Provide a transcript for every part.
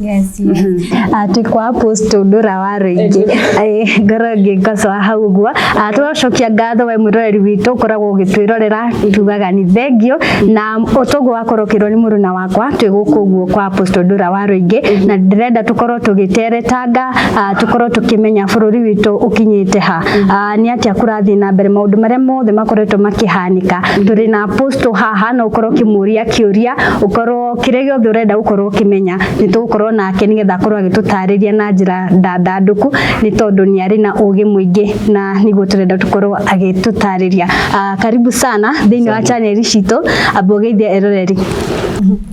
Yes, yes. atĩ kwa apostle ndũra wa rũingĩ Ĩ, ngoro ngĩngocwa hau ũguo Ah, tũracokia ngatho we mwĩroreri witũ ũkoragwo ũgĩtwĩrorera tugaga nĩ thengio na ũtũgũ wakorwo ũkĩrwo nĩ mũrũ na wakwa twĩ gũkũ ũguo kwa apostle ndũra wa rũingĩ na ndĩrenda tũkorwo tũgĩteretanga ah, tũkorwo tũkĩmenya bũrũri witũ ũkinyĩte ha Ah, nĩ atĩa kũrathiĩ na mbere maũndũ marĩa mothe makoretwo makĩhanĩka tũrĩ na apostle haha no ũkorwo ũkĩmũria kĩũria ũkorwo kĩrĩa gĩothe ũrenda gũkorwo ũkĩmenya nĩ tũgũkorwo nake nĩgetha akorwo agĩtũtarĩria na njĩra ndandandũku nĩ tondũ nĩ arĩ na ũgĩ mũingĩ na nĩguo tũrenda tũkorwo agĩtũtarĩria. Ah, karibu sana thĩinĩ wa chaneli citũ ambua ũgeithia eroreri.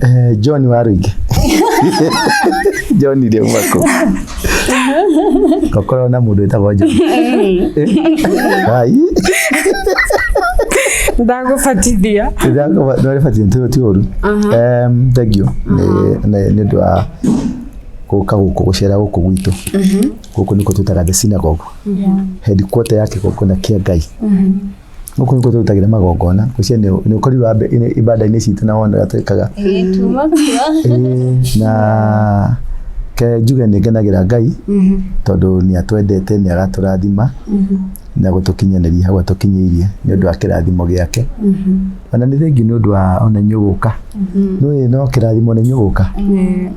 Eh, John wa Rũingĩ. John Rĩaumako. tokorwo na mundu witagwo John ai ndagũbatithia ndarĩbatiĩ ti ti ũru Em, thengiũ nĩ- nĩ nĩ ũndũ wa gũka gũkũ gũcera gũkũ gwitũ gũkũ nĩkuo twĩtaga the synagogue headquarter ya kĩgongona kĩa ngai gũkũ nĩkuo tũrutagĩra magongona ngwĩciria nĩ nĩ ũkorirwo ambe- inĩ- ibanda-inĩ citũ na wona ũrĩa twĩkaga Ĩĩ, tuma kuo. Ĩĩ, na ke njuge nĩ ngenagĩra ngai tondũ nĩ atwendete nĩ agatũrathima na gũtũkinyanĩria hau atũkinyĩirie nĩ ũndũ wa kĩrathimo gĩake ona nĩ thengi nĩ ũndũ wa ona inyuĩ gũka nĩ no kĩrathimo nĩ inyuĩ gũka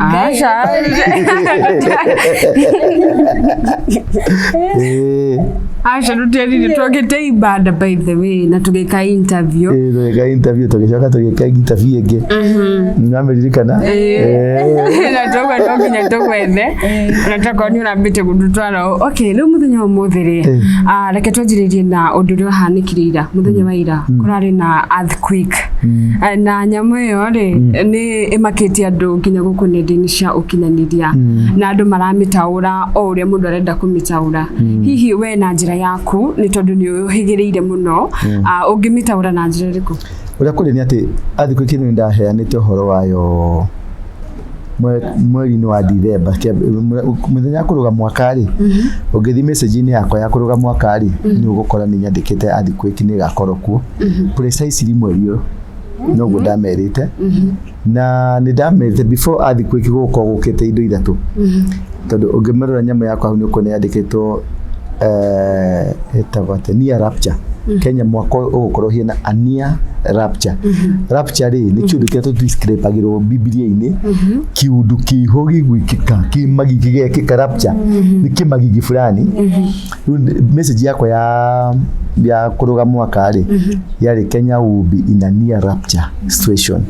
Ah, já. Eh, Asha tutiarire twagite ibada by the way na tugeka interview. eh, tũgĩka interview tũgĩcoka tũgĩka interview ĩngĩ nĩwameririkana na togwa no nginya tũgwethe na tokorwo nĩ ũrambĩte gũtũtwara ũ- okay rĩu mũthenya wa ũmũthĩ rĩ Eh. ah, reke twanjĩrĩrie na ũndũ ũrĩa ũhanĩkire ira mũthenya wa ira kũrarĩ na earthquake Ah, na nyamũ ĩyo rĩ nĩ ĩmakĩtie andũ nginya gũkũ nenda-inĩ cia ũkinyanĩria mm. na andũ maramĩtaũra o ũrĩa mũndũ arenda kũmĩtaũra mm. hihi we na njĩra yaku nĩ tondũ nĩ ũhĩgĩrĩire mũno mm. uh, ũngĩmĩtaũra na njĩra ĩrĩkũ ũrĩa kũrĩ nĩ atĩ athikũ ici nĩ ndaheanĩte ũhoro wayo mweri-inĩ wa Dithemba mũthenya ya kũrũga mwaka rĩ mhm. ũngĩthiĩ message-inĩ yakwa ya kũrũga mwaka rĩ mhm. nĩ ũgũkora nĩ nyandĩkĩte athikũ ici nĩ ĩgakorwo kuo mhm. precisely mweri ũyũ noguo ndamerĩte na nĩ ndamerĩte before athi kwĩki gũkwa gũkĩte indo ithatũ tondũ ũngĩmerora nyamũ yakwa hau nĩ ũkuona yandĩkĩtwo eh, ĩtagwo atĩ near rapture kenya mwaka ũyũ ũgũkorwo hiena a near rapture rapture rĩ nĩ kĩũndũ kĩrĩa tũdescribagĩrwo bibilia-inĩ kĩũndũ kĩho gĩgwĩkĩka kĩmagi gĩgekĩka rapture nĩ kĩmagigi fulani Rĩu nĩ- message yakwa ya ya kũrũga mwaka rĩ yarĩ Kenya will be in a near rapture situation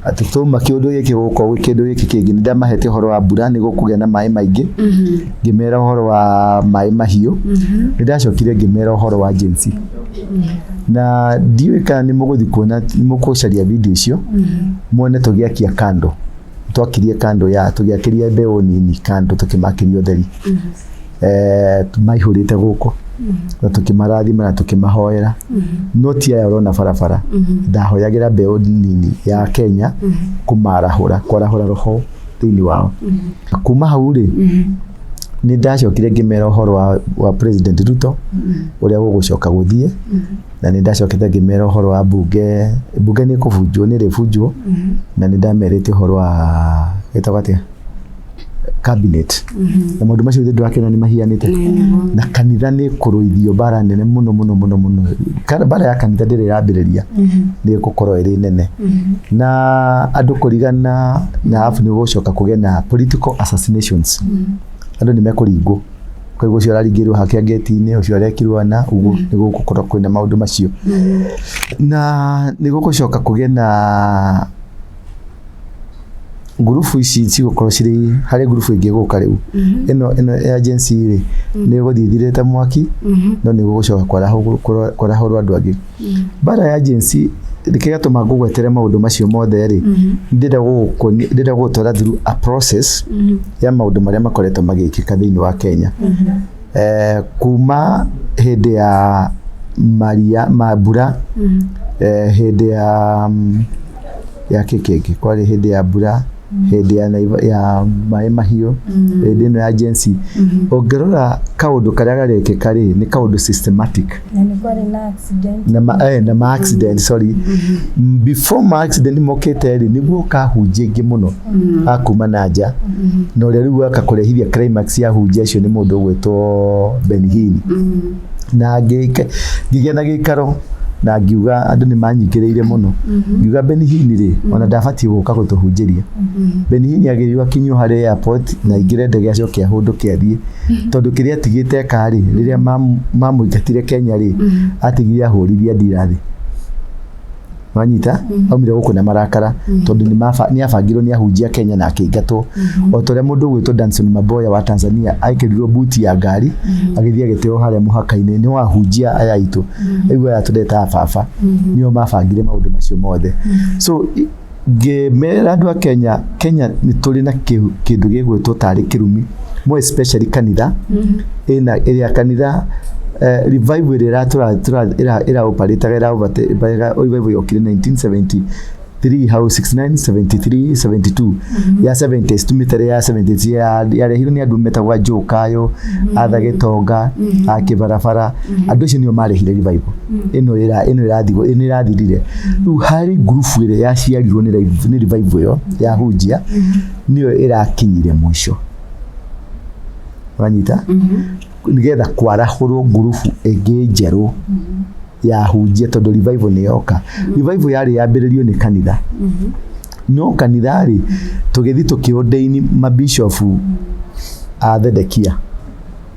atĩ tũma kĩũndũ gĩkĩ gũka gwĩ kĩndũ gĩkĩ kĩngĩ nĩ ndamahete ũhoro wa mbura nĩ gũkũgĩa na maĩ maingĩ ngĩmera ũhoro wa maĩ mahiũ nĩ ndacokire ngĩmera ũhoro wa jinsi na ndiũĩ kana nĩ mũgũthiĩ kuona nĩ mũkũcaria video icio muone tũgĩakia kando twakirie kando ya tũgĩakĩria mbeũ nini kando tũkĩmakĩria ũtheri eh, maihũrĩte gũkũ na tũkĩmarathima na tũkĩmahoera no ti aya ũrona barabara ndahoyagĩra mbeũ nini ya kenya kũmarahũra kwarahũra roho thĩinĩ wao kuma hau rĩ nĩ ndacokire ngĩmera ũhoro wa, wa president ruto ũrĩa gũgũcoka gũthiĩ na nĩ ndacokete ngĩmera ũhoro wa mbunge mbunge nĩ kũbunjwo nĩ rĩbunjwo na nĩ ndamerĩte ũhoro wa gĩtagwo atĩa cabinet mhm. na maundu macio ndirakena ni mahianite na kanitha ni kuruithio bara nene muno muno muno muno bara ya kanitha ndiri yambiriria mhm. ni gukorwo iri nene mhm. na andu kurigana na afu ni gucoka kuge na political assassinations andu ni mekuringwo kwa hivyo ucio araringirwo hake ngeti-inä ucio arekirwo ana uguo nä gå gå korwo kwä na maå ndå macio na nä gå gå coka kå gä na ngurubu ici cigũkorwo cirĩ harĩ ngurubu ĩngĩ gũka rĩu ĩno ĩno ya Gen Z rĩ nĩ gũthiĩ ĩthirĩte mwaki no nĩ gũgũcoka kwarahũrwo kũra- kwarahũrwo andũ angĩ mbara ya Gen Z kĩrĩa gĩatũma ngũgwetere maũndũ macio mothe rĩ ndĩrenda gũgũkoni- ndĩrenda gũgũtwara through a process ya maũndũ marĩa makoretwo magĩkĩka thĩinĩ wa Kenya eh, kuma hĩndĩ ya maria ma mbura eh, hĩndĩ ya mm, ya kĩkĩngĩ kwarĩ hĩndĩ ya mbura hĩndĩ ya, naiva- ya maĩ mahiũ hĩndĩ ĩno ya jensi ũngĩrora kaũndũ karĩa garekĩka rĩ nĩ kaũndũ systematic Na nĩ kwarĩ na accident. na ma, eh, na ma accident sorry M- before ma accident mokĩte rĩ nĩguo kahunjia ingĩ mũno a kuma na nja na ũrĩa rĩu waka kũrehithia climax ya hunjia icio nĩ mũndũ ũgwĩtwo Ben Hinn na ngĩke- ngĩgĩa na gĩikaro na ngiuga andũ nĩ manyingĩrĩire mũno ngiuga benihini rĩ ona ndabatiĩ gũka gũtũhunjĩria benihini agĩrĩirwo akinyio harĩ airport na aingĩre ndege acoke ahũndũke athiĩ tondũ kĩrĩa atigĩte eka rĩ rĩrĩa mam- mamũingatire kenya rĩ atigire ahũririe ndira thĩ wanyita aumire gũkũ na marakara tondũ nĩ maba- nĩ abangirwo nĩ ahunjia Kenya na akĩingatwo o ta ũrĩa mũndũ ũgwĩtwo Danson Maboya wa Tanzania aikĩrirwo buti ya ngari agĩthiĩ agĩteo harĩa mũhaka-inĩ nĩ wahunjia aya aitũ aigua aya tũretaga baba nĩo mabangire maũndũ macio mothe so i- ngĩmera andũ a Kenya Kenya nĩ tũrĩ na kĩ- kĩndũ gĩgwĩtwo tarĩ kĩrumi more especially kanitha ina area kanitha eh, revival ĩrĩa ĩratũra- tũra- ĩra- ĩraũparĩtaga ĩraũparĩtaga revival yokire 1970 3 how 69 73 72 ya 70s tumitere ya 70s ya yarehirwo nĩ andũ metagwa njokayo atha gĩtonga a kĩbarabara andũ acio nĩo marehire revival ĩno ĩra- ĩno ĩrathigwo ĩno ĩrathirire rĩu harĩ ngurubu ĩrĩa yaciarirwo nĩ rev- nĩ revival ĩyo ya hunjia nĩyo ĩrakinyire mũico wanyita nĩgetha kwarahũrwo ngurubu ĩngĩ njerũ yahunjia tondũ revival nĩ yoka revival yarĩ yambĩrĩrio nĩ kanitha no kanitha rĩ tũgĩthiĩ tũkĩũndeini mabicobu a thedekia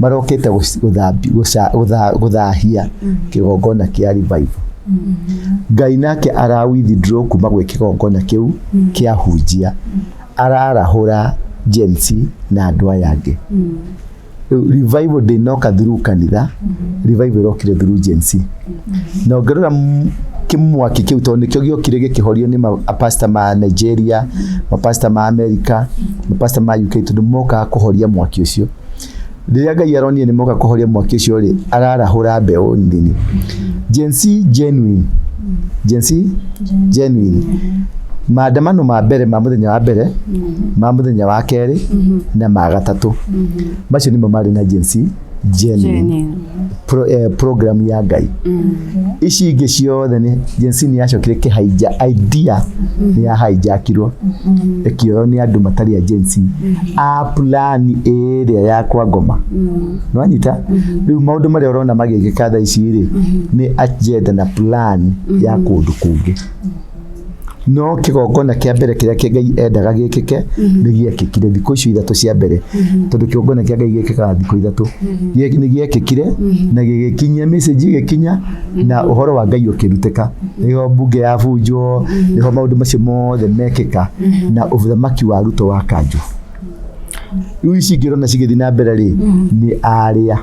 marokĩte gũc- gũthambi- gũca- gũtha- gũthahia kĩgongona kĩa revival ngai nake ara withdraw kuma gwĩ kĩgongona kĩu kĩa hunjia ararahũra Gen Z na andũ aya angĩ Rĩu revival ndĩnoka through kanitha revival ĩrokire through Gen Z na ũngĩrora kĩmwaki kĩu tondũ nĩkĩo gĩokire gĩkĩhorio nĩ mapasta ma Nigeria mapasta ma Amerika mapasta ma UK tondũ mokaga kũhoria mwaki ũcio rĩrĩa Ngai aronire nĩ moka kũhoria mwaki ũcio rĩ ararahũra mbeũ nini Gen Z genuine Gen Z genuine maandamano ma mbere ma mũthenya wa mbere ma mũthenya wa kerĩ na ma gatatũ macio nĩmo marĩ na Gen Z Jenny pro, eh, program ya ngai ici ingĩ ciothe nĩ jensi nĩ yacokire kĩhaija idea nĩ yahainjakirwo ĩkĩoywo nĩ andũ matarĩ a jensi a plani ĩrĩa ya kwa ngoma nĩwanyita rĩu maũndũ marĩa ũrona magĩgĩka thaa ici rĩ nĩ agenda na plan ya kũndũ kũngĩ no kĩgongona kĩa mbere kĩrĩa kĩ- ngai endaga gĩkĩke nĩ gĩekĩkire thikũ icio ithatũ cia mbere tondũ kĩgongona kĩa ngai gĩkĩkaga thikũ ithatũ Gĩek- nĩ gĩekĩkire na gĩgĩkinyia message gĩgĩkinya na ũhoro wa ngai ũkĩrutĩka nĩho mbunge ya bunjwo nĩho maũndũ macio mothe mekĩka na ũthamaki wa ruto wa kanjũ rĩu ici ingĩ ũrona cigĩthiĩ na mbere rĩ nĩ arĩa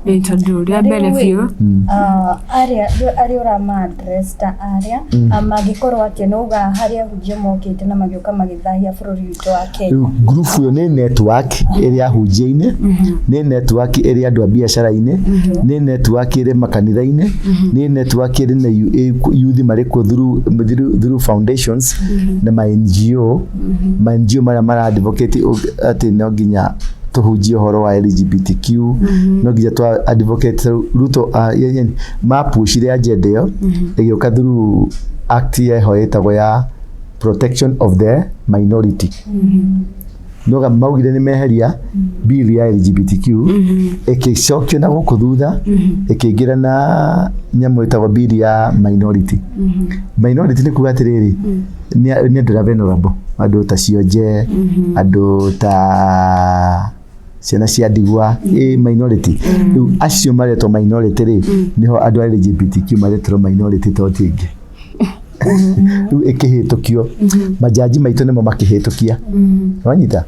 Ĩ, tondũ rĩa mbere biũ Ah, arĩa arĩa ũramadresta arĩa ah, mangĩkorwo atĩ no uga harĩa ahunjia mokĩte na magĩũka magĩthahia bũrũri witũ wa Kenya rĩu group ĩyo nĩ network ĩrĩa hunjia-inĩ nĩ network ĩrĩa andũ a biacara-inĩ nĩ network ĩrĩ makanitha-inĩ nĩ network ĩrĩ na yu- ĩ- yuthi marĩ kuo through- through through foundations na ma NGO ma NGO marĩa mara advocate ug- atĩ no nginya tũhunjie ũhoro wa LGBTQ no nginya twa advocate rĩu Ruto ah, ye- ye- mapushire agenda ĩyo ĩgĩũka through act yeho ĩtagwo ya protection of the minority noga maugire nĩ meheria bill ya LGBTQ ĩkĩcokio na gũkũ thutha ĩkĩingĩra na nyamũ ĩtagwo bill ya minority minority nĩ kuga atĩrĩrĩ nĩ nĩ andũ ta venerable andũ ta cionje andũ ta ciana cia ndigwa ĩ minority rĩu acio maretwo minority rĩ nĩho andũ a LGBTQ maretwo minority to ti ĩngĩ rĩu ĩkĩhĩtũkio majaji maitũ nĩmo makĩhĩtũkia wanyita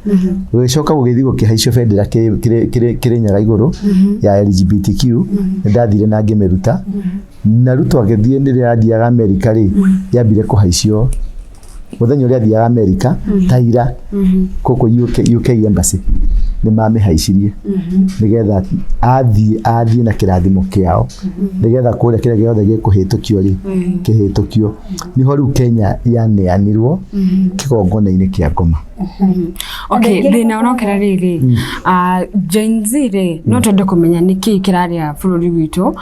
gũgĩcoka gũgĩthiĩ gũkĩhaicio bendera kĩrĩ- kĩrĩ- kĩrĩ- kĩrĩ nyaga igũrũ ya LGBTQ nĩ ndathire na ngĩmĩruta na ruto agĩthiĩ nĩ rĩrĩa athiaga amerika rĩ yambire kũhaicio mũthenya ũrĩa athiaga amerika ta ira kũkũ UK, UK embassy nĩ mamĩhaicirie nĩgetha athiĩ athiĩ na kĩrathimo kĩao nĩgetha kũrĩa kĩrĩa gĩothe gĩkũhĩtũkio rĩ kĩhĩtũkio nĩho rĩu kenya yaneanirwo kĩgongona-inĩ kĩa ngoma okay thina unokera riri Ah, Gen Z ri no twende kumenya nä kä kä rarä bå rå ri witå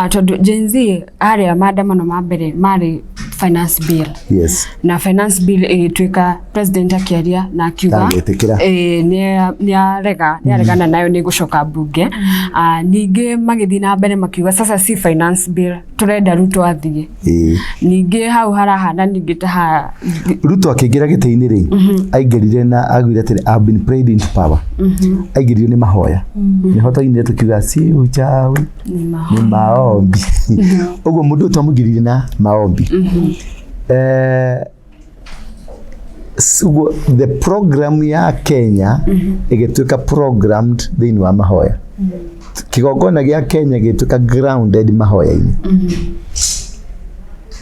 tondå Gen Z arä a maandamano ma mbere marä finance bill yes na finance bill ĩgĩtuĩka president akĩaria na akiuga Ndangĩtĩkĩra. eh, nĩa- nĩarega nĩaregana nayo nĩ gũcoka mbunge Ah, ningĩ magĩthiĩ na mbere makiuga sasa si finance bill tũrenda ruto athiĩ Ĩĩ. ningĩ hau harahana ningĩ ta ha ruto akĩingĩra gĩtĩ-inĩ rĩ aingĩrire na agwire atĩrĩ "I've been prayed into power aingĩrire nĩ mahoya nĩho twainire tũkiuga si uchawi nĩ maombi ũguo mũndũ ũyũ twamũingĩrire na maombi Eh, Sugu- the program ya kenya ĩgĩtuĩka programmed thĩinĩ wa mahoya kĩgongona gĩa kenya gĩtuĩka grounded mahoya-inĩ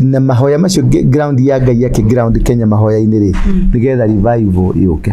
na mahoya macio nge- ground ya ngai akĩ ground kenya mahoya-inĩ rĩ nĩgetha revival yũke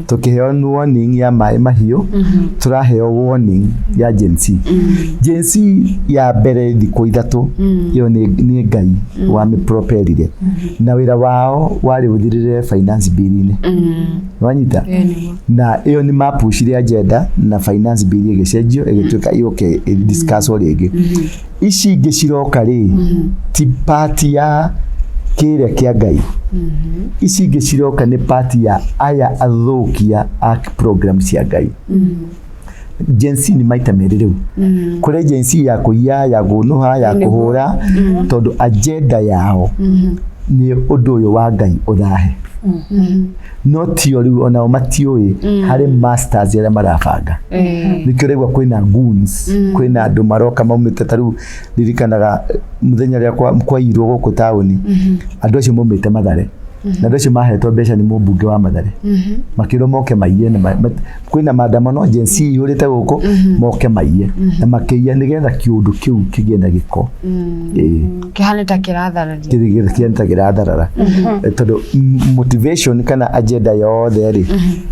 tũkĩheo nĩ warning ya maĩ mahiũ tũraheo warning ya Gen Z Gen Z ya mbere thikũ ithatũ ĩyo nĩ nĩ ngai wa mĩproperire na wĩra wao warĩ ũthirĩre finance bill-inĩ wanyita na ĩyo nĩ mapucire agenda na finance bill ĩgĩcenjio ĩgĩtuĩka yũke ĩdiscusswo rĩngĩ ici ingĩ ciroka rĩ ti pati ya kĩrĩa kĩa ngai ici ingĩ ciroka nĩ pati ya aya athũkia a program cia ngai jensi nĩ maita merĩ rĩu kũrĩ jensi ya kũiya ya gũnũha ya kũhũra tondũ agenda yao nĩ ũndũ ũyũ wa ngai ũthahe no tio riu onao matiũĩ harĩ masters arĩa marabanga nĩkĩo ũraigua kwĩna goons kwĩna andũ maroka maumĩte ta rĩu ririkanaga eh, mũthenya rĩa kwa- kwairwo gũkũ taũni andũ acio maumĩte mathare na andũ acio mahetwo mbeca nĩ mũmbunge wa mathare makĩrwo moke maiye na ma- ma- kwĩna maandamano Gen Z yũrĩte gũkũ moke maiye na makĩiya nĩgetha kĩũndũ kĩu kĩgĩe na gĩko Ĩĩ kĩhane ta kĩrathararia kĩrigĩrĩria kĩanta kĩratharara tondũ m- motivation kana agenda yothe rĩ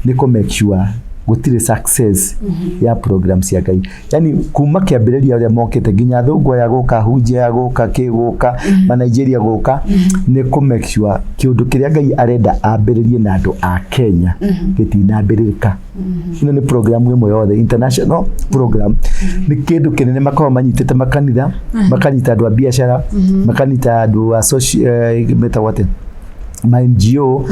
nĩ kũ make sure gũtirĩ success ya program cia ngai yani kuma kĩambĩrĩria ũrĩa mokĩte nginya thũngũ aya gũka hunjia gũka kĩ gũka mm-hmm. ma Nigeria gũka mm-hmm. nĩ kũ make sure kĩũndũ kĩrĩa Ngai arenda ambĩrĩrie na andũ a Kenya mm-hmm. gĩtinambĩrĩrĩka ĩno nĩ program ĩmwe yothe international program nĩ kĩndũ kĩnene makoragwo manyitĩte makanitha makanyita andũ a biacara makanyita andũ a social eh, metagwo atĩa ma NGO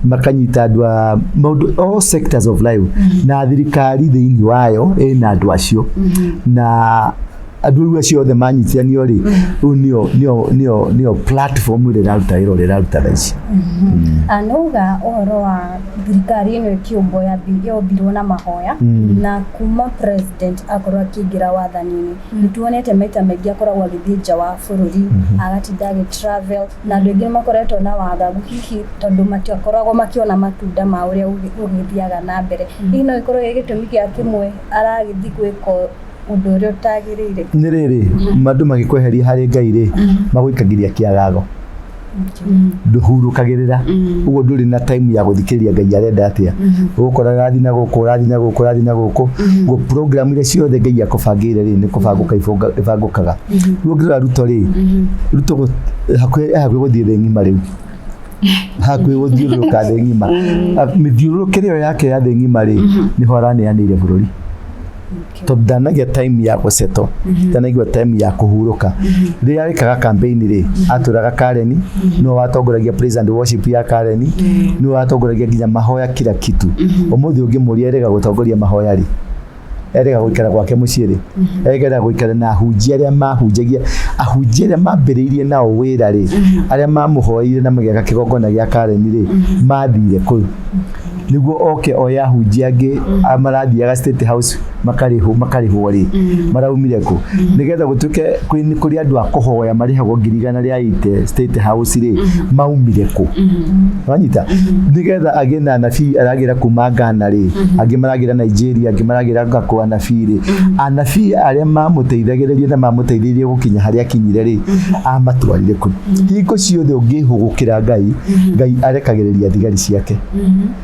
makanyita andũ a maũndũ all sectors of life na thirikari thĩinĩ wayo ĩna andũ acio na andũ rĩu acio othe manyitiranio rĩ rĩu nĩyo nĩyo nĩyo nĩyo platform ĩrĩa ĩraruta wĩra ũrĩa ĩraruta thaa ici anauga ũhoro wa thirikari ĩno ĩkĩũmbwo yambi- yombirwo na mahoya Mm. na kuma president akorwo akĩingĩra wathani-inĩ nĩ tuonete maita maingĩ akoragwo agĩthiĩ nja wa bũrũri agatinda agĩ travel Na andũ aingĩ makoretwo na wagagu hihi tondũ matiakoragwo makĩona matunda ma ũrĩa ũgĩthiaga na mbere. Mm. Hihi no ĩkorwo gĩ gĩtũmi gĩa kĩmwe aragĩthiĩ gwĩka ũndũ ũrĩa ũtagĩrĩire. Nĩ rĩrĩ, mm. andũ magĩkweheria harĩ Ngai rĩ, mm. magũikagĩria kĩagago nduhurukagirira uguo nduri na time ya guthikiriria ngai arenda atia ugukora rathi na guku rathi na guku rathi na guku program iria ciothe ngai akubangire ri ni kubanguka ibangukaga rĩu ũngĩrora ruto rĩ ruto gũ- hakuhĩ hakuhĩ gũthiĩ thĩ ng'ima rĩu hakuhĩ gũthiũrũrũka thĩ ng'ima Ah, mĩthiũrũrũkĩre ĩyo yake ya thĩ ng'ima rĩ nĩho araneanĩire bũrũri tondũ ndanagia time ya gũceto ndanaigua time ya kũhurũka rĩrĩa arĩkaga kampeni rĩ atũraga kareni nĩwe watongoragia praise and worship ya kareni nĩwe watongoragia nginya mahoya kila kitu ũmũthĩ ũngĩmũria erega gũtongoria mahoya rĩ erega gũikara gwake mũciĩ rĩ erega gũikara na ahunjia arĩa mahunjagia ahunjia arĩa mambĩrĩirie nao wĩra rĩ arĩa mamũhoeire na magĩaka kĩgongona gĩa kareni rĩ mathire kũu nĩguo oke oya ahunjia angĩ a- marathiaga state house makarĩhwo makarĩhwo rĩ maraumire kũ nĩgetha gũtuĩke kwĩ- nĩ kũrĩ andũ a kũhoya marĩhagwo ngiri igana na rĩa ite state house rĩ maumire kũ wanyita nĩgetha agĩ na anabii aragĩra kuma Ghana rĩ angĩ maragĩra Nigeria angĩ maragĩra ngakwa anabii rĩ anabii arĩa mamũteithagĩrĩria na mamũteithĩrĩria gũkinya harĩa akinyire rĩ amatwarire kũ hingo ciothe ũngĩhũgũkĩra Ngai Ngai arekagĩrĩria thigari ciake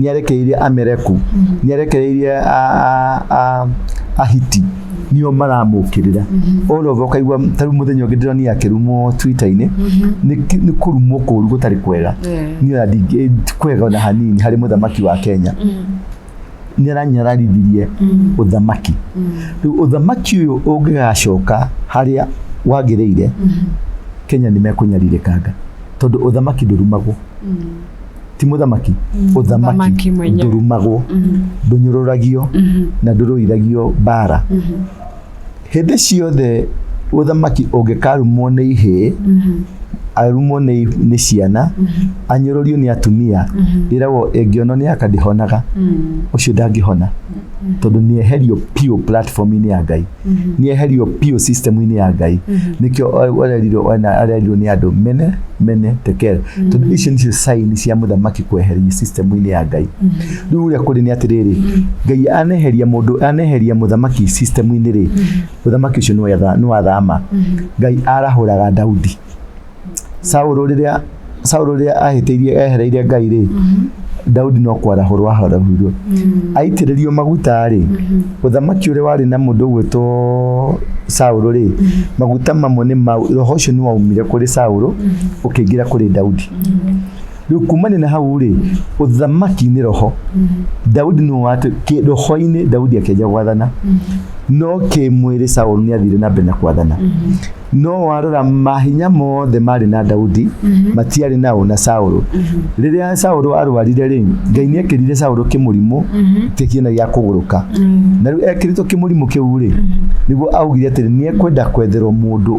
nĩarekereirie amereku nĩarekereirie a- a- a- ahiti nio maramũkĩrĩra olova ũkaigua tarĩu mũthenya ũngĩ ndĩronire akĩrumwo twita-inĩ nĩ kĩ- nĩ kũrumwo kũru gũtarĩ kwega Yeah. niona ndingĩ- ti kwega ona hanini harĩ mũthamaki wa kenya nĩ aranyararithirie ũthamaki rĩu ũthamaki ũyũ ũngĩgacoka harĩa wagĩrĩire kenya nĩ mekũnyarirĩkanga tondũ ũthamaki ndũrumagwo ti mũthamaki mm. ũthamaki ndũrumagwo mm-hmm. ndũnyũrũragio mm-hmm. na ndũrũithagio mbara mm-hmm. hĩndĩ ciothe ũthamaki ũngĩkarumwo nĩ ihĩ arumwo nĩ ciana anyũrũrio nĩ atumia ĩragwo ĩngĩonwo nĩ aka ndĩhonaga ũcio ndangĩhona tondũ nĩ eherio piũ platform-inĩ ya ngai nĩ eherio biũ system-inĩ ya ngai nĩkĩo o- arerirwo ona arerirwo nĩ andũ mene mene tekel tondũ icio nĩcio saini cia mũthamaki kweherio system-inĩ ya ngai rĩu ũrĩa kũrĩ nĩ atĩrĩrĩ ngai aneheria mũndũ aneheria mũthamaki system-inĩ rĩ mũthamaki ũcio nĩ wetha- nĩ wathama ngai arahũraga daudi Saũlũ rĩrĩa Saũlũ rĩrĩa ahĩtĩirie ehereire Ngai rĩ Daudi no kwarahũrwo aharahũirwo aitĩrĩrio maguta rĩ ũthamaki ũrĩa warĩ na mũndũ ũgwĩtwo Saũlũ rĩ maguta mamwe nĩ mau roho ũcio nĩ waumire kũrĩ Saũlũ ũkĩingĩra kũrĩ Daudi rĩu kumane na hau rĩ ũthamaki nĩ roho daudi nĩ watu kĩ- roho-inĩ daudi akĩanjia gwathana no kĩmwĩrĩ saũlũ nĩ athire na mbere na kwathana no warora mahinya mothe marĩ na daudi matiarĩ nao na saũlũ rĩrĩa saũlũ arwarire rĩ ngai nĩ ekĩrire saũlũ kĩmũrimũ kĩkiena gĩa kũgũrũka na rĩu ekĩrĩtwo kĩmũrimũ kĩu rĩ nĩguo augire atĩrĩ nĩ ekwenda kwetherwo mũndũ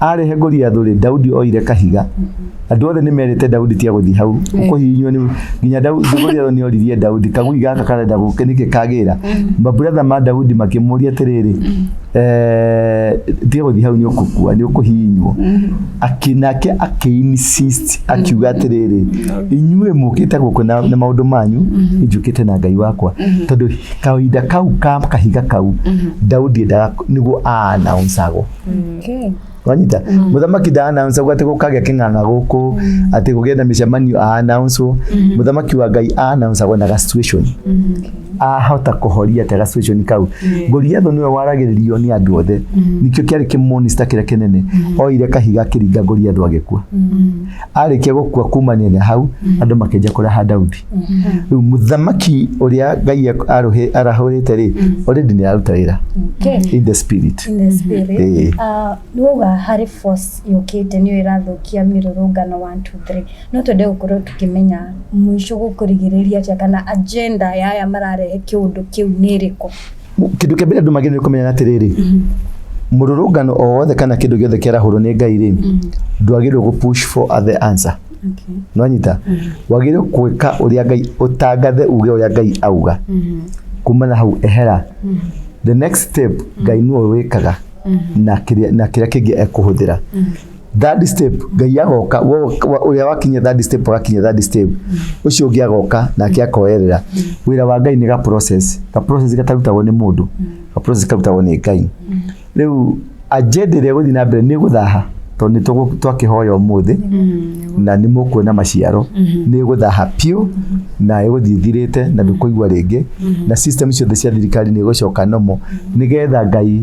arehe Goliathu rĩ Daudi oire kahiga andũ othe nĩ merĩte Daudi tia gũthiĩ hau kũhihinywo nĩ nginya Daudi Goliathu nĩ oririe Daudi kagui gaka karenda gũke nĩkĩ kagĩra maburatha ma Daudi makĩmũria atĩrĩrĩ eh, tia gũthiĩ hau nĩ ũkũkua nĩ ũkũhihinywo Aki- nake akĩinsist akiuga atĩrĩrĩ inyuĩ mũkĩte gũkũ na na maũndũ manyu njũkĩte na ngai wakwa tondũ kahinda kau ka kahiga kau Daudi endaga nĩguo aanaunsagwo Okay. wanyita muthamaki nda announce atĩ gũkagĩa kĩng'ang'a gũkũ atĩ gũgĩe na mĩcemanio a announce muthamaki wa ngai a announce agwo na ga situation ahota kũhoria atĩ ga situation kau goliatho nĩwe waragĩrĩrio nĩ andũ othe nĩkĩo kĩarĩ kĩmonista kĩrĩa kĩnene oire kahiga akĩringa goliatho agĩkua arĩkia gũkua kumania na hau andũ makĩnja kũraha Daudi rĩu mũthamaki ũrĩa Ngai arũhĩ- arahũrĩte rĩ already nĩ araruta wĩra Okay. in the spirit In the spirit. Eh. Ah, nĩ wauga harĩ force yũkĩte nĩyo ĩrathũkia mĩrũrũngano 1 2 3 no twende gũkorwo tũkĩmenya mũico gũkũrigĩrĩria atĩa kana agenda ya aya mararehe kĩũndũ kĩu nĩ ĩrĩkũ kĩndũ kĩa mbere andũ magĩrĩirwo nĩ kũmenya atĩrĩrĩ mũrũrũngano o wothe kana kĩndũ gĩothe kĩarahũrwo nĩ ngai rĩ ndwagĩrĩirwo gũ push for the answer Okay. nwanyita wagĩrĩirwo gwĩka ũrĩa ngai ũtangathe uge ũrĩa ngai auga kuma na hau ehera the next step ngai nĩwe wĩkaga na kĩrĩa na kĩrĩa kĩngĩ ekũhũthĩra third step ngai agoka ũrĩa wakinya third step agakinya third step ũcio ũngĩ agoka nake akoerera wĩra wa ngai nĩ ga process ga process gatarutagwo nĩ mũndũ ga process karutagwo nĩ ngai rĩu agenda ĩrĩa gũthiĩ na mbere nĩ gũthaha tondũ nĩ tũgũ- twakĩhoya ũmũthĩ na nĩ mũkuona maciaro nĩ gũthaha biũ na ĩgũthiĩ ĩthirĩte na ndũkũigua rĩngĩ na system ciothe cia thirikari nĩ ĩgũcoka nomo nĩgetha ngai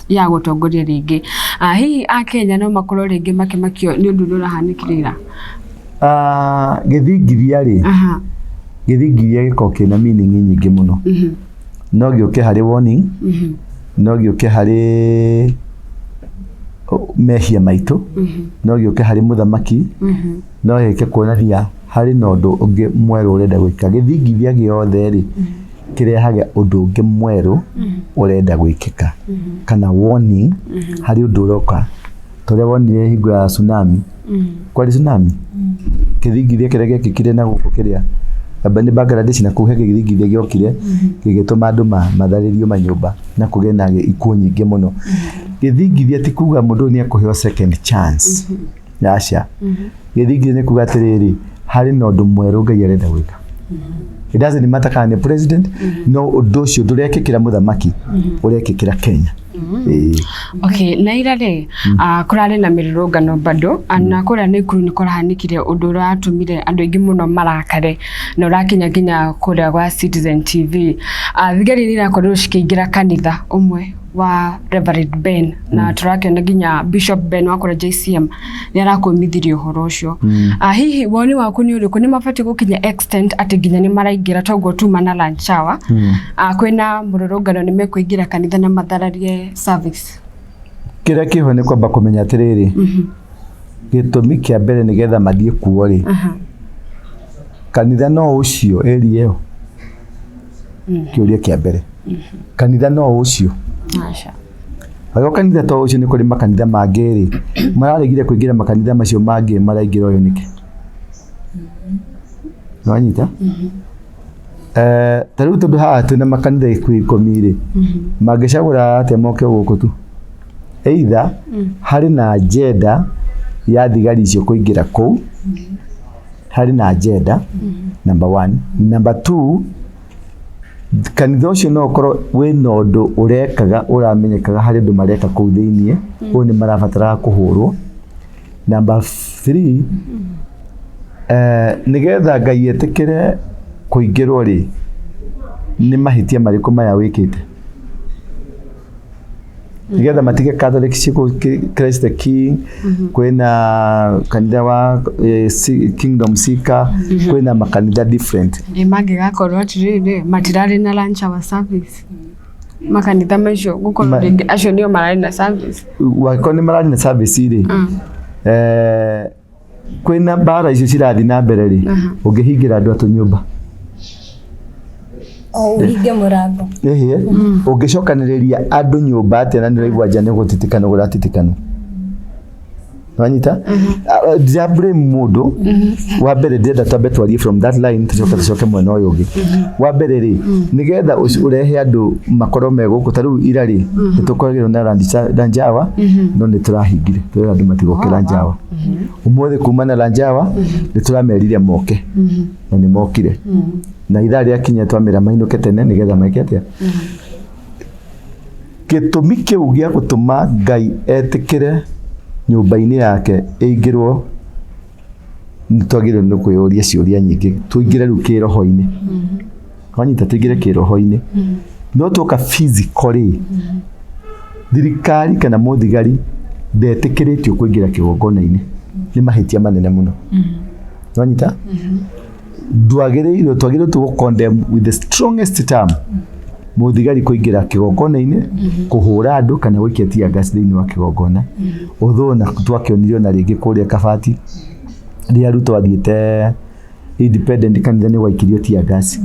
ya gũtongoria rĩngĩ. Ah, hihi a Kenya no makorwo rĩngĩ makĩmakio nĩ ũndũ ũrĩa ũrahanĩkire ira. Ah, gĩthingithia rĩ Aha. gĩthingithia gĩkoragwo kĩna meaning nyingĩ mũno Mhm. no gĩũke harĩ warning Mhm. no gĩũke harĩ mehia maitũ Mhm. no gĩũke harĩ mũthamaki Mhm. no gĩũke kuonania harĩ na ũndũ ũngĩ mwerũ ũrenda gwĩka gĩthingithia gĩothe rĩ kĩrehage ũndũ ũngĩ mwerũ ũrenda gwĩkĩka kana warning harĩ ũndũ ũroka torĩa wonire hingo ya tsunami kwarĩ tsunami kĩthingithia kĩrĩa gĩekĩkire na gũkũ kĩrĩa amba nĩ Bangladesh na kũu he kĩthingithia gĩokire gĩgĩtũma andũ ma- matharĩrio manyũmba na kũgĩe na ikuũ nyingĩ mũno gĩthingithia ti kuga mũndũ ũyũ nĩ ekũheo second chance aca gĩthingi nĩ kuga atĩrĩrĩ harĩ na ũndũ mwerũ ngai arenda gwĩka It doesn't matter kana nĩ president no ũndũ ũcio ndũrekĩkĩra mũthamaki ũrekĩkĩra kenya Ĩĩ. Okay, na ira rĩ ah, kũrarĩ na mĩrũrũngano bado ah, na kũrĩa nĩ kuru nĩ kũrahanĩkire ũndũ ũratũmire andũ aingĩ mũno marakare na ũrakinya nginya kũrĩa gwa Citizen TV Ah, thigari nĩ irakorirwo cikĩingĩra kanitha ũmwe wa Reverend Ben na tũrakĩona nginya Bishop Ben wakora JCM nĩ arakwĩmithirie ũhoro ũcio Ah, hihi woni waku nĩ ũrĩkũ nĩ mabatiĩ gũkinya extent atĩ nginya nĩ maraingĩra toguo tuma na lunch hour Ah, kwĩna mũrũrũngano nĩ mekũingĩra kanitha na mathararie service kĩrĩa kĩho nĩ kwamba kũmenya atĩrĩrĩ gĩtũmi kĩa mbere nĩ getha mathiĩ kuo rĩ Aha. kanitha no ũcio area ĩyo kiuria kia mbere kanitha no ucio Aca. Agĩo kanitha to ucio nĩ kũrĩ makanitha mangĩ rĩ mararegire kũingĩra makanitha macio mangĩ maraingĩra ũyũ nĩkĩ nĩwanyita Eh, ta rĩu tondũ haha twĩna makanitha ikuo ikũmi rĩ mangĩcagũra atĩa moke gũkũ tu either harĩ na njenda ya thigari icio kũingĩra kũu harĩ na agenda number one number two kanitha ũcio no ũkorwo wĩ na ũndũ ũrekaga ũramenyekaga harĩ andũ mareka kũu thĩinĩ ũyũ nĩ marabataraga kũhũrwo number three eh, nĩgetha ngai etĩkĩre kũingĩrwo rĩ nĩ mahĩtia marĩkũ maya wĩkĩte nĩgetha matige Catholic ciku Christ the King kwĩna kanitha wa eh, si- Kingdom Seeker kwĩna makanitha different Nĩ mangĩgakorwo atĩrĩrĩ matirarĩ na lunch hour service makanitha macio gũkorwo Ma- rĩngĩ acio nĩo mararĩ na service wagĩkorwo nĩ mararĩ na service rĩ eh, kwĩna mbara icio cirathiĩ na mbere rĩ Aha. ũngĩhingĩra andũ atũ nyũmba o ũhinge mũrango Ehe. ũngĩcokanĩrĩria andũ nyũmba atĩa na nĩraigua nja nĩgũtitikana gũratitikana wanyita Ah, ndira blame mũndũ wa mbere ndĩrenda twambe twarie from that line tũcoke tũcoke mwena ũyũ ũngĩ wa mbere rĩ nĩgetha ũci- ũrehe andũ makorwo me gũkũ ta rĩu ira rĩ nĩtũkoragĩrwo na ranjawa no nĩtũrahingire twĩra andũ matigokĩra njawa ũmũthĩ kuma na lanjawa nĩ tũramerire moke na nĩ mokire na ithaa rĩa kinya twamera mainũke tene nĩgetha meke atĩa gĩtũmi kĩu gĩa gũtũma ngai etĩkĩre nyũmba-inĩ yake ĩingĩrwo nĩ twagĩrĩirwo nĩ kwĩyũria ciũria nyingĩ tũingĩre rĩu kĩroho-inĩ wanyita tũingĩre kĩroho-inĩ no tuoka physically thirikari kana mũthigari ndetĩkĩrĩtio kũingĩra kĩgongona-inĩ nĩ mahĩtia manene mũno wanyita ndwagĩrĩirwo twagĩrĩirwo tu gũcondemn with the strongest term mũthigari kũingĩra kĩgongona-inĩ kũhũra andũ kana gũikia tia gas thĩinĩ wa kĩgongona ũthũ na twakĩonirio na rĩngĩ kũrĩa kabati rĩrĩa ruto athiĩte independent kanitha-inĩ gwaikirio tia gas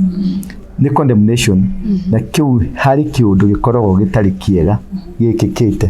nĩ condemnation na kĩu harĩ kĩũndũ gĩkoragwo gĩtarĩ kĩega gĩkĩkĩte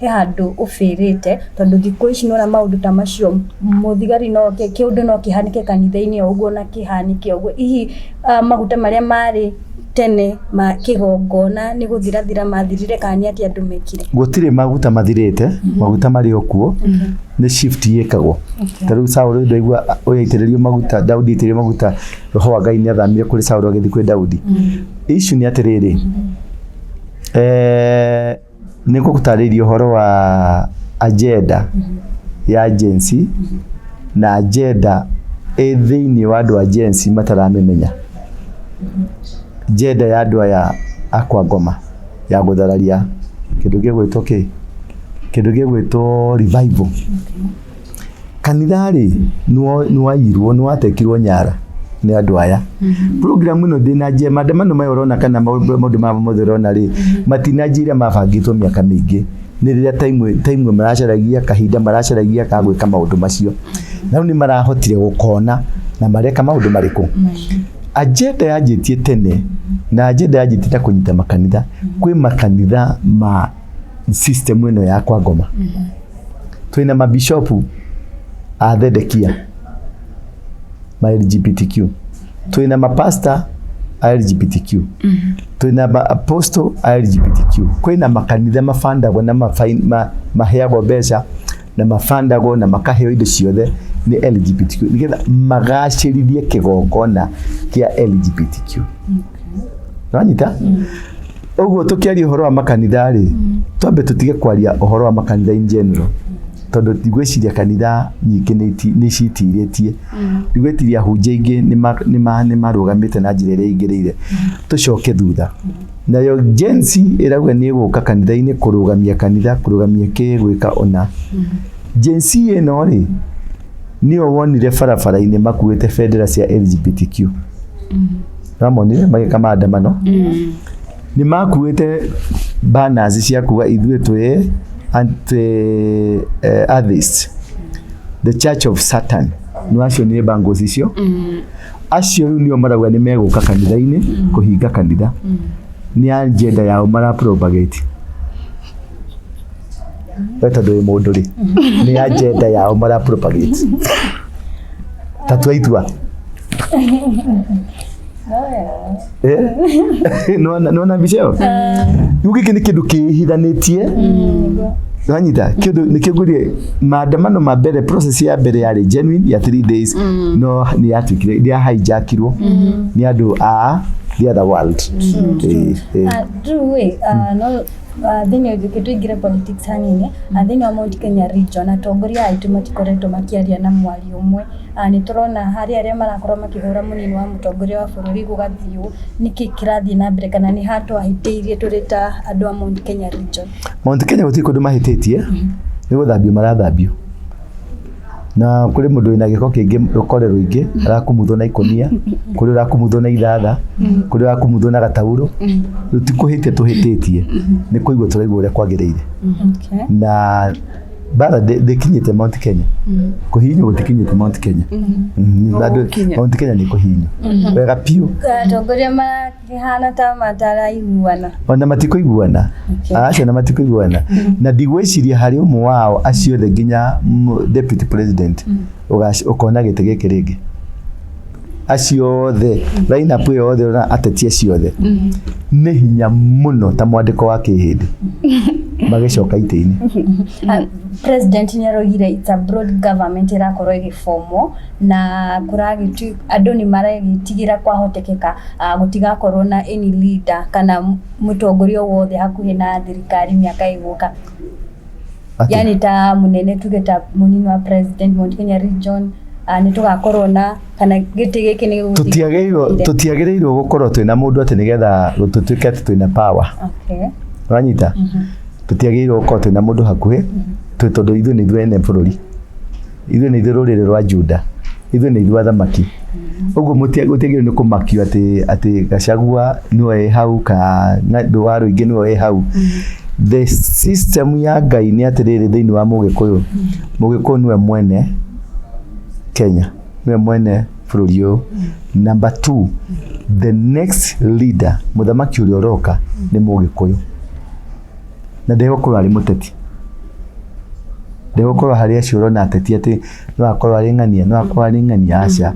he handũ ũbĩrĩte tondũ thikũ ici nĩwona maũndũ ta macio mũthigari no oke kĩũndũ no kĩhanĩke kanitha-inĩ o ũguo na kĩhanĩke o ũguo hihi maguta marĩa marĩ tene ma kĩgongona nĩ gũthirathira mathirire kana nĩ atĩa andũ mekire gũtirĩ maguta mathirĩte maguta marĩ o kuo nĩ shift yĩkagwo ta rĩu Saũlũ ndaigua ũyaitĩrĩrio maguta Daudi aitĩrĩrio maguta roho wa Ngai nĩ athamire kũrĩ Saũlũ agĩthiĩ kwĩ Daudi issue nĩ atĩrĩrĩ eh, Nĩ ngũgũtarĩria ũhoro wa agenda ya Gen Z na agenda ĩ thĩinĩ wa andũ a Gen Z mataramĩmenya. Agenda ya andũ aya a kwa Ngoma ya gũthararia kĩndũ gĩgwĩtwo kĩ? Kĩndũ gĩgwĩtwo revival. kanitha rĩ nĩwo- nĩwairwo nĩwatekirwo nyara nĩ andũ aya program ĩno ndĩnanjia maandamano maya ũrona kana maũndũ maũndũ maya mothe ũrona rĩ matinanjĩire mabangĩtwo mĩaka mĩingĩ nĩ rĩrĩa time time maracaragia kahinda maracaragia ka gwĩka maũndũ macio na rĩu nĩ marahotire gũkona na mareka maũndũ marĩkũ agenda yanjĩtie tene na agenda yanjĩtie na kũnyita makanitha kwĩ makanitha ma system ĩno ya kwa ngoma twĩna mabishopu a thedekia ma lgbtq twĩna mapasta a lgbtq twĩna ma- apostle a lgbtq kwĩna makanitha mabandagwo na mafain- ma- maheagwo mbeca na mabandagwo na makaheo indo ciothe nĩ LGBTQ nĩgetha magacĩrithie kĩgongona kĩa LGBTQ nanyita ũguo tũkĩaria ũhoro wa makanitha rĩ twambe tũtige kwaria ũhoro wa makanitha in general tondũ ndigwĩciria kanitha nyingĩ nĩ iti- nĩ citirĩtie ndigwĩciria hunjia ingĩ nĩ ma- nĩ ma- nĩ marũgamĩte na njĩra ĩrĩa ingĩrĩire tũcoke thutha Nayo Gen Z ĩrauga nĩ ĩgũka kanitha-inĩ kũrũgamia kanitha, kũrũgamia kĩ gwĩka ũna. Gen Z ĩno rĩ, nĩyo wonire barabara-inĩ makuĩte bendera cia LGBTQ. Wamonire magĩka maandamano? Nĩ makuĩte banners cia kuga ithuĩ twĩ anti eh, atheist. The Church of Satan. Nĩ wacionire bangles icio? acio rĩu nĩo marauga nĩ megũka kanitha-inĩ kũhinga kanitha nĩ agenda yao mara propagate we tondũ wĩ mũndũ rĩ nĩ agenda yao mara propagate ta twaitua Eh? Nĩwona- nĩwona mbica ĩyo rĩu gĩkĩ nĩ kĩndũ kĩhithanĩtie wanyita kĩndũ nĩkĩo ngũrie maandamano ma mbere process ya mbere yarĩ genuine ya 3 days no nĩ yatuĩkire nĩ yahijackirwo nĩ andũ a the other world Eh, eh. Ah, Drew, wĩ, ah, no ah, thĩinĩ ũngĩke tũingĩre politics hanini Ah, thĩinĩ wa Mount Kenya region atongoria aitũ matikoretwo makĩaria na mwari ũmwe Na nĩ tũrona harĩ arĩa marakorwo makĩhũra mũnini wa mũtongoria wa bũrũri gũgathiũ, nĩkĩ kĩrathiĩ na mbere kana nĩ ha twahĩtĩirie tũrĩ ta andũ a Mount Kenya region? Mount Kenya gũtirĩ kũndũ mahĩtĩtie, nĩ gũthambio marathambio. Na kũrĩ mũndũ wĩna gĩko kĩngĩ rũkore rũingĩ arakumuthwo na ikũnia, kũrĩ ũrakumuthwo na ithatha, kũrĩ ũrakumuthwo na gataurũ. Rĩu ti kũhĩtia tũhĩtĩtie, nĩ kũigua tũraigua ũrĩa kwagĩrĩire. Okay. Na bara ndĩ- ndĩkinyĩte Mount Kenya kũhihinywo gũtikinyĩte Mount Kenya Mhm, bado Gũkinya. Mount Kenya nĩ kũhihinywo wega biũ atongoria makĩhana ta mataraiguana ona matikoiguana acio na matikoiguana na ndigwĩciria harĩ ũmwe wao aciothe nginya mm, deputy president ũgac- ũkona gĩtĩ gĩkĩ rĩngĩ acio othe lineup ĩyo yothe na ateti acio othe nĩ hinya mũno ta mwandĩko wa kĩhĩndĩ magĩcoka itĩ-inĩ Ah, president nä araugire it's a broad government ĩrakorwo ĩgĩbomwo na kũragĩtu andũ nĩ maragĩtigä ra kwahotekeka ah, gũtigakorwo na any leader kana mũtongoria o wothe hakuhĩ na thirikari mĩaka ĩgũka Atĩ- yani ta munene tuge ta munini wa president Mount Kenya region ah, nĩ tũgakorwo na kana gĩtĩ gĩkĩ nĩ gĩgũthiĩ- tũtiagĩrĩirwo tũtiagĩrĩirwo gũkorwo twĩna mũndũ atĩ nĩgetha tũtuĩke atĩ twĩna power okay wanyita tũtiagĩrĩirwo gũkorwo twĩna mũndũ hakuhĩ twĩ tondũ ithuĩ nĩ ithuĩ ene bũrũri ithuĩ nĩ ithuĩ rũrĩrĩ rwa Juda ithuĩ nĩ ithuĩ athamaki ũguo gũtiagĩrĩirwo nĩ kũmakio atĩ atĩ gacagua nĩwe wĩ hau kana andũ wa rũingĩ nĩwe wĩ hau the system ya ngai nĩ atĩrĩrĩ thĩinĩ wa mũgĩkũyũ mũgĩkũyũ nĩwe mwene kenya nĩwe mwene bũrũri ũyũ number two the next leader mũthamaki ũrĩa ũroka nĩ mũgĩkũyũ na ndegũkorwo arĩ mũteti ndegũkorwo harĩ acio ũrona ateti atĩ no akorwo arĩ ng'ania no akorwo arĩ ng'ania aca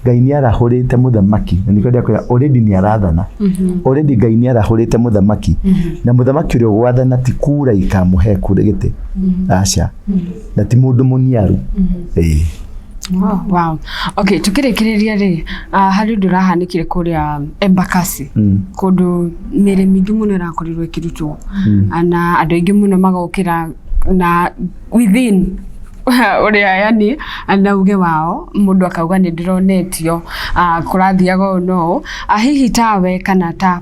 ngai nĩ arahũrĩte mũthamaki na nĩkĩo ndĩrakwĩra already nĩ arathana already ngai nĩ arahũrĩte mũthamaki na mũthamaki ũrĩa ũgwathana ti kura ikamũhe kura gĩtĩ aca na ti mũndũ mũniaru Ĩĩ. Wow, wow. Okay, tukirikiriria ri uh, hari undu rahanikire kuria Embakasi Mm. kundu mĩrĩ mingĩ mũno ĩrakorirwo ĩkĩrutwo na andũ aingĩ mũno magokĩra na within ũrĩa yani na uge wao mũndũ akauga nĩ ndĩronetio ah, kũrathiaga ũũ na ũũ Ah, hihi tawe kana ta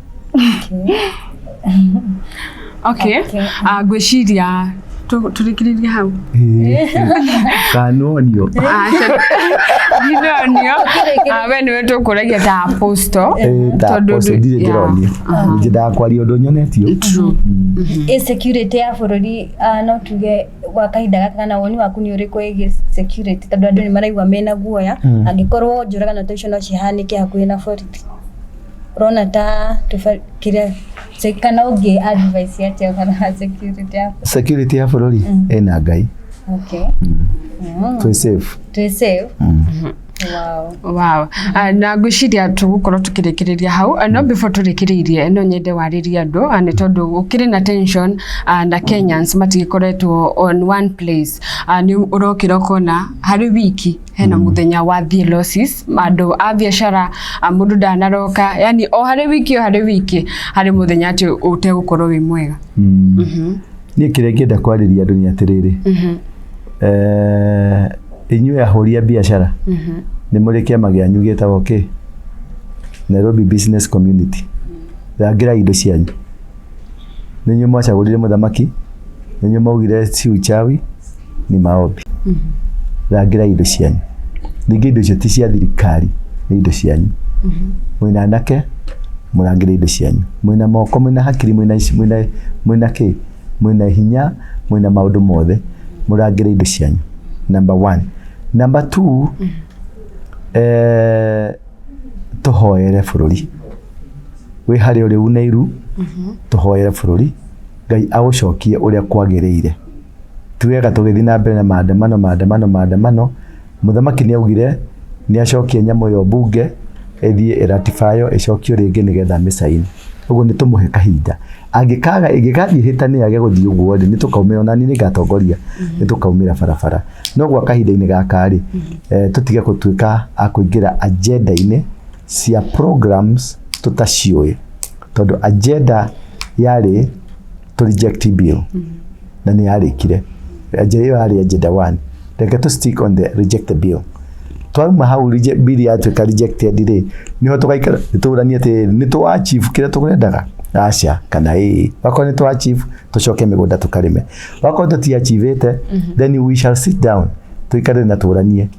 okay Ah, ngwĩciria tũ- tũrĩkĩrĩrie hau kanonio Ah, aca- ndinonio Ah, we nĩwe tũkũragia ta aposto Tondũ ndũ- ndirĩ yeah. ndĩronio ningĩ ndakwaria ũndũ nyonetio True. ĩ security ya bũrũri ah, no tuge gwa kahinda gaka kana woni waku nĩ ũrĩkũ ĩgiĩ security tondũ andũ nĩ maraigua mena guoya angĩkorwo njũragano ta icio no cihanĩke hakuhĩ na borithi Ũrona ta tũba- kĩrĩa se- kana ũngĩ advice atia ũhoro wa security yako. security ya bũrũri ĩna ngai Okay. Mm. twĩ safe Twĩ safe. Wow. Wow. Ah, na ngwĩciria tũgũkorwo tũkĩrĩkĩrĩria hau Ah, no before tũrĩkĩrĩirie no nyende warĩrie andũ ah, nĩ tondũ gũkĩrĩ na tension ah, na Kenyans matigĩkoretwo on one place Ah, nĩ ũrokĩra ũkona harĩ wiki hena mm. muthenya wa thie losses andu a biashara mundu ndanaroka yani o hari wiki o hari wiki hari muthenya ati ute gukorwo wi mwega mm. mm -hmm. ni kire ngenda kwariria andu ni atiriri mm -hmm. eh inyuĩ ahũri a biacara mm -hmm. nĩ mũrĩ kĩama gĩanyu gĩtagwo kĩ Nairobi Business Community mm -hmm. rangira indo cianyu Ninyi mwachagulire muthamaki, ninyi maugire si uchawi ni maombi. Rangira indo cianyu. Ningĩ indo icio ti cia thirikari, nĩ indo cianyu. Mwĩna anake, mũrangĩre indo cianyu. Mwĩna moko, mwĩna hakiri, mwĩna ici, mwĩna mwĩna kĩ? Mwĩna hinya, mwĩna maũndũ mothe, mũrangĩre indo cianyu. Number one. Number two, eh, tũhoere bũrũri. wĩ harĩa ũrĩ unairu tũhoere bũrũri ngai agũcokie ũrĩa kwagĩrĩire ti wega tũgĩthiĩ na mbere na maandamano maandamano maandamano mũthamaki nĩ augire nĩ acokie nyamũ ĩyo mbunge ĩthiĩ ĩratibayo ĩcokio rĩngĩ nĩgetha mĩcainĩ ũguo nĩ tũmũhe kahinda angĩkaga ĩngĩgathiĩ hĩtanĩ yage gũthiĩ ũguo rĩ nĩ tũkaumĩra ona niĩ nĩ ngatongoria nĩ tũkaumĩra barabara no gwa kahinda-inĩ gaka rĩ eh, tũtige gũtuĩka a kũingĩra agenda-inĩ cia programs tũtaciũĩ tondũ agenda yarĩ tũ reject bill na nĩ yarĩkire agenda ĩyo yarĩ agenda one reke tũ stick on the reject the bill twauma hau rije- bill yatuĩka rejected rĩ nĩho tũgaikara tũranie atĩ nĩ tũ achieve kĩrĩa tũrendaga aca kana ĩĩ wakorwo nĩ tũ achieve tũcoke mĩgũnda tũkarĩme wakorwo tũti achievĩte then we shall sit down tũikare na tũranie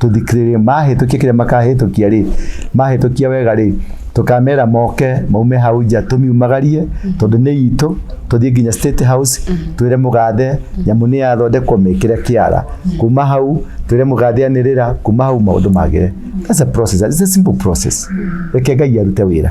tũthikĩrĩrie mahĩtũkia kĩrĩa makahĩtũkia rĩ mahĩtũkia wega rĩ tũkamera moke maume hau nja tũmiumagarie tondũ nĩ itũ tũthiĩ nginya state house twĩre mũgathe nyamũ nĩ yathondekwo mĩkĩre kĩara kuma hau twĩre mũgathe anĩrĩra kuma hau maũndũ magĩre that's a process it's a simple process reke ngai arute wĩra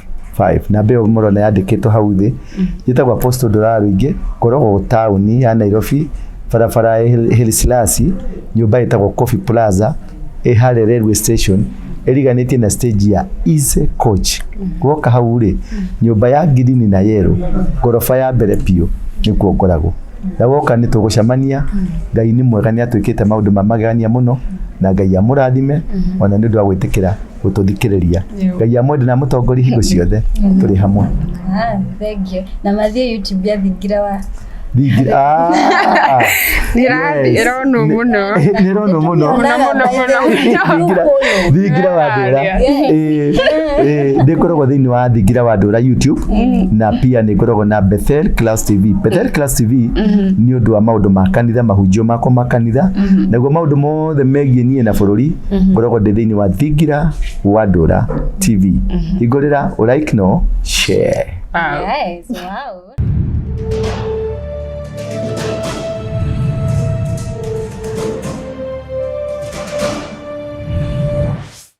5 na mbeo murona yandikitwo hau thi yitagwo apostle ndoraro ingi koragwo tauni ya nairobi barabara ya Hil- hilisilasi nyumba itagwo coffee plaza ihare railway station iriganitie na stage ya easy coach gwoka hau ri nyumba ya ngirini na yero ngoroba ya mbere biũ nĩkuo ngoragwo na woka nĩ tũgũcemania ngai nĩ mwega nĩ atwĩkĩte maũndũ ma magegania mũno na ngai amũrathime ona nĩ ũndũ wa gwĩtĩkĩra gũtũthikĩrĩria ngai amwende na mũtongori hingo ciothe tũrĩ hamwe Ah, thengiũ na mathiĩ youtube athingira wa Thingi- Ah, ah. Ndĩrathi- Yes. ĩronwo Nĩ- mũno. nĩ ĩronwo mũno Mũno, mũno, mũno. Thingira- thingira wa ndũra Yes. ndĩkoragwo thĩinĩ wa thingira wa ndũra youtube na pia nĩ ngoragwo na bethel class tv bethel class tv nĩ ũndũ wa maũndũ ma kanitha mahunjio makwa ma kanitha naguo maũndũ mothe megiĩ niĩ na bũrũri ngoragwo ndĩ thĩinĩ wa thingira wa ndũra tv hingũrĩra ũraik no share Yes, wow.